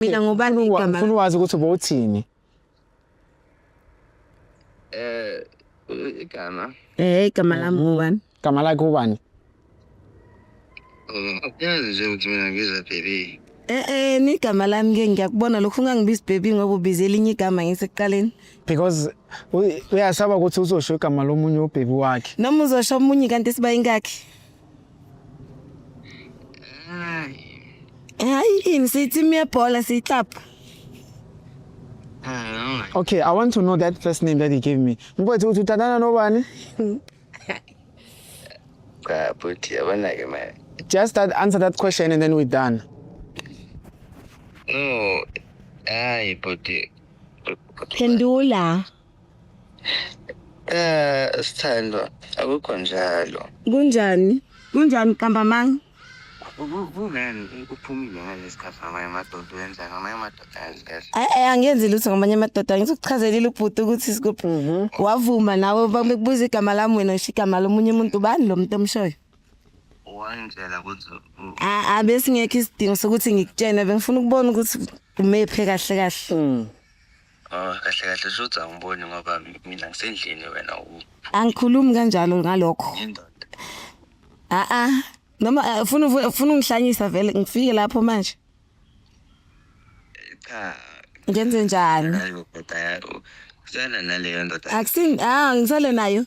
mina ngubani Ngifuna uwa- igama ngifuna uwazi ukuthi bowuthini eh igama eh igama lami Mhm. ngubani gama lakhe ubani uyazi nje ukuthi mina ngiza baby eh eh ni igama lami ke ngiyakubona lokho ungangibizi baby ngoba ubize elinye igama ngisekuqaleni because u- uyasaba ukuthi uzosho igama lomunye ubhebi wakhe noma uzosho omunye kanti sibayingakhi Hayi ini siyitim yebhola siyiklapha. Okay, I want to know that first name that he gave me. Mkwethu uthi uthandana nobani? Cha bhuti abanake manje. Just that answer that question and then we're done. No. Hayi bhuti. Phendula. Eh sithandwa akukho njalo. Kunjani? Kunjani kambamanga? Kungani uphumile ngalesi khathi ngamanye amadoda wenza ngamanye amadoda enzi kahle. Ay ay angenzi lutho ngamanye amadoda ngizokuchazelile ubhuti ukuthi sikuphi. Wavuma nawe bakubuza igama lami wena usho igama lomunye umuntu bani lo muntu omshoyo? Wangitshela ukuthi u- A- Abe singekho isidingo sokuthi ngikutshene bengifuna ukubona ukuthi umephe kahle kahle. Oh kahle kahle shuthi angiboni ngoba mina ngisendlini wena u angikhulumi kanjalo ngalokho indoda. a a noma eh, ufuna uvu- ufuna ungihlanyisa vele ngifike lapho manje Cha. ngenze njani Hayi ubhuti aya- u- usana naleyo ndoda. akusin ah ngisale nayo